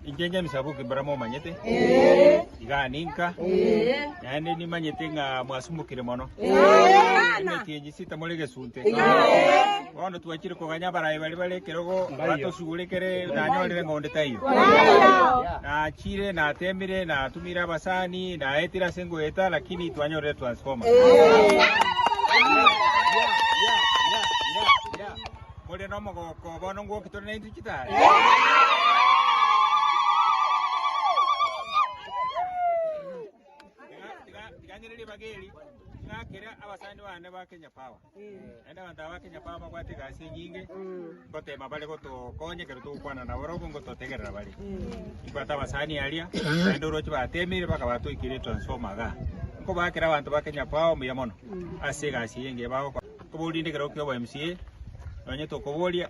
Inche James Abuki mbora momanyete iga ninka naende nimanyete ng'a mwasumukire mono Emetienyi Ase tamore egesunte. Bono twachire koganya abarayi baria bare ekerogo batosugure ekere nanyorire ng'a onde taiyo. Nachire natemire natumire abasani naetire ase ngoeta lakini twanyorire transformer. Kore nomogoko bono ngwoki tore naintwe chitari. Tiganyereria Bageri, ng'a kera abasani bane ba Kenya Power, naende abanto aba ba Kenya Power babwate egasi enyinge ngoteema bare gotokonya ekero togokwana nabo barobwo ngototegerera bare. Nibwate abasani aria naende oroche bateemire mpaka batwekire transformer igaa. Nkobaa kera abanto ba Kenya Power mbuya mono ase egasi eye engiya bagokora. Nkoboria rinde ekero okia obo MCA nonye tokoboria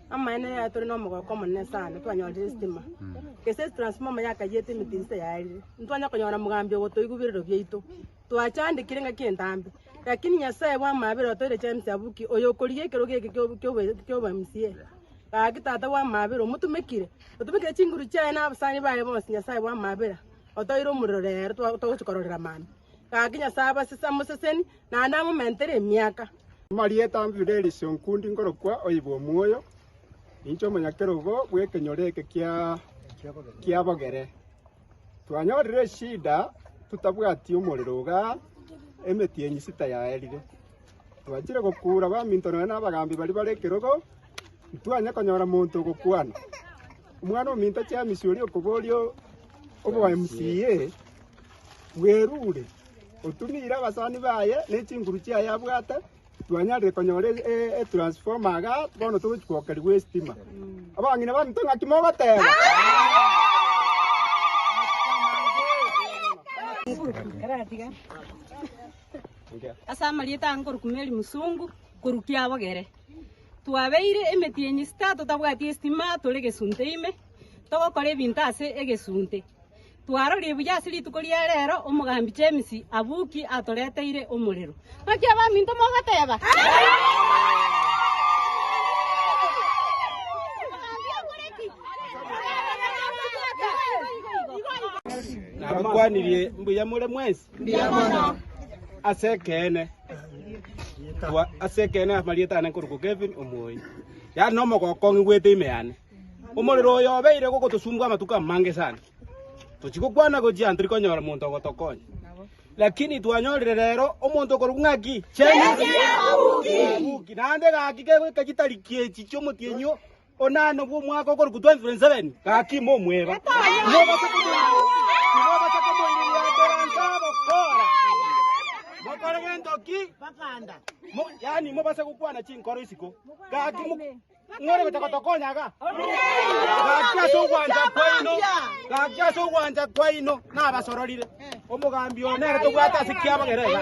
Amaene yaye tore nomogoko omonene sana twanyorire estima gese etransformer yakayete emitinisa yaerire ntwanya konyora mogambi ogotoigwa birero biaito twachandekire ngaki entambe lakini nyasaye bwamabera otoeire James abuki oyo okorigia ekerogo eke kioba mca gaki tata bwamabera omotumekire otumekire chinguru chiaye na abasani baye bonsi nyasaye bwamabera otoeire omorero rero togochi kororera mambia. Gaki Nyasae abasese amoseseni, naende amomentere emiaka. Marieta Mvureri Sionkundi nkorokwa oibwe omoyo, ninche omonyakerogo bw'ekenyoro eke kia kia Bogere. Twanyorire eshida totabwati omorero iga emetienyi sita yaerire. Twachire gokura baminto nonye na abagambi baria bare ekerogo, ntitwanya konyora monto ogokwana. Omwana ominto James oria okoboria obo MCA. Bwerure, otumire abasani baye ne chinguru chiaye abwate, twanyarire konyora etransformer iga bono togochia kwokerigwa esitima. Abang'ina baminto ng'aki mogoteba? ase amarieta aa nkoruku Mary Musungu nkoruku Kiabogere. Twabeire emetienyi sita totabwati estima tore Gesunte ime togokora ebinto ase egesunte. Twarorie buya ase rituko ria reero omogambi James abuki atoreteire omorero. Naki abaminto mogoteeba? Omogambi akore ki? Nabakwanirie mbuya more mwensi. Ase ekeene, twa- ase ekeene amarieta aane nkorokwa Kevin omoyio. Yare nomogokong'u bw'etime yane. Omorero oyo obeire gogotosumbwa amatuko amange sana. Tochigokwana gochia ntori konyora monto ogotokonya. Lakini twanyorire rero omonto okorokwa ng'aki? Cheneti Obuki. Naende gaki kegoika chitari kiechi chiomotienyi o- onane bwa omwaka okorokwa 2027 gaki ime omweba. Tibwabasa komoira- tibwabasa komoiriria ekeransa gokora. Mokore gento ki? Mo- yaani mobase gokwana chinkoro isiko. Gaki mo- Mweregete gotokonya iga? Gaki ase ogwancha kwaino, gaki ase ogwancha kwaino nabasororire. Omogambi oo nere tobwate ase kiabagera iga.